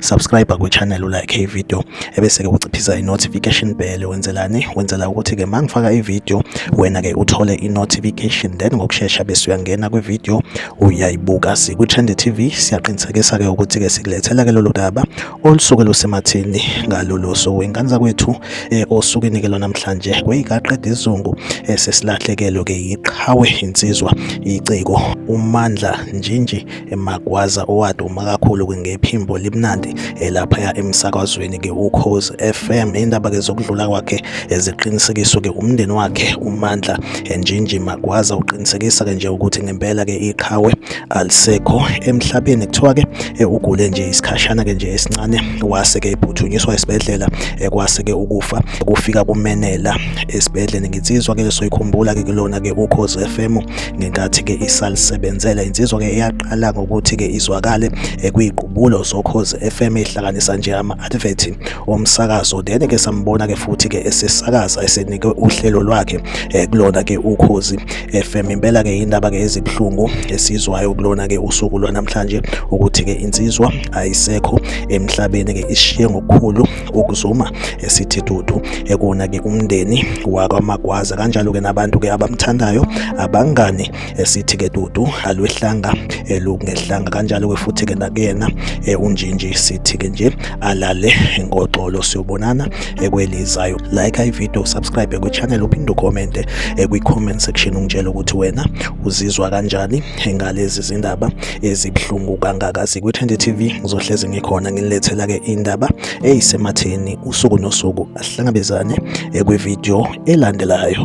subscribe kwichannel ulike ivideo ebese-ke uciphisa i-notification bell wenzelani wenzela ukuthi-ke ma ngifaka ivideo wena-ke uthole i-notification then ngokushesha bese uyangena kwivideo uyayibuka sikwi-trend tv siyaqinisekisa-ke ukuthi-ke sikulethela-ke lolu daba olusuke lusemathini ngalolo suku ingane zakwethu um eh, osukwini-ke lwanamhlanje kweyikaqeda izungu um eh, sesilahlekelwe-ke yiqhawe insizwa iciko umandla njinji emagwaza owaduma kakhulu ngephimbo limnandi elaphaya emsakazweni ke ukhozi FM indaba ke zokudlula kwakhe eziqinisekiswe ke umndeni wakhe umandla enjinji magwaza uqinisekisa ke nje ukuthi ngempela ke iqhawe alisekho emhlabeni kuthiwa ke eh, ugule nje isikhashana ke nje esincane wase ke ephuthunyiswa esibhedlela eh, kwase ke ukufa kufika kumenela esibhedlela nginsizwa ke soyikhumbula ke kulona ke ukhozi FM ngenkathi-ke isalisebenzela insizwa-ke eyaqala ngokuthi-ke izwakale ekwiqubulo zokhozi FM ihlanganisa nje ama-advert omsakazo then-ke sambona-ke futhi-ke esesakaza esenike uhlelo lwakhe eh, kulona-ke ukhozi FM impela-ke yindaba-ke ezibuhlungu esizwayo kulona-ke usuku lwanamhlanje ukuthi-ke insizwa ayisekho emhlabeni-ke ishiye ngokukhulu ukuzuma esithi dudu ekona ke umndeni wakwaMagwaza kanjalo ke nabantu ke abamthandayo abangani esithi ke dudu alwehlanga elungehlanga kanjalo ke futhi ke nakuyena e, unjinji sithi ke nje alale ngoxolo siyobonana ekwelizayo like i video subscribe ku channel uphinde ucomment e, kwi comment section ungitshela ukuthi wena uzizwa kanjani ngalezi zindaba ezibuhlungu kangaka sikwi-20 TV ngizohlezi ngikhona nginilethela ke indaba eyisematheni usuku nosuku asihlangabezane ekwivideo elandelayo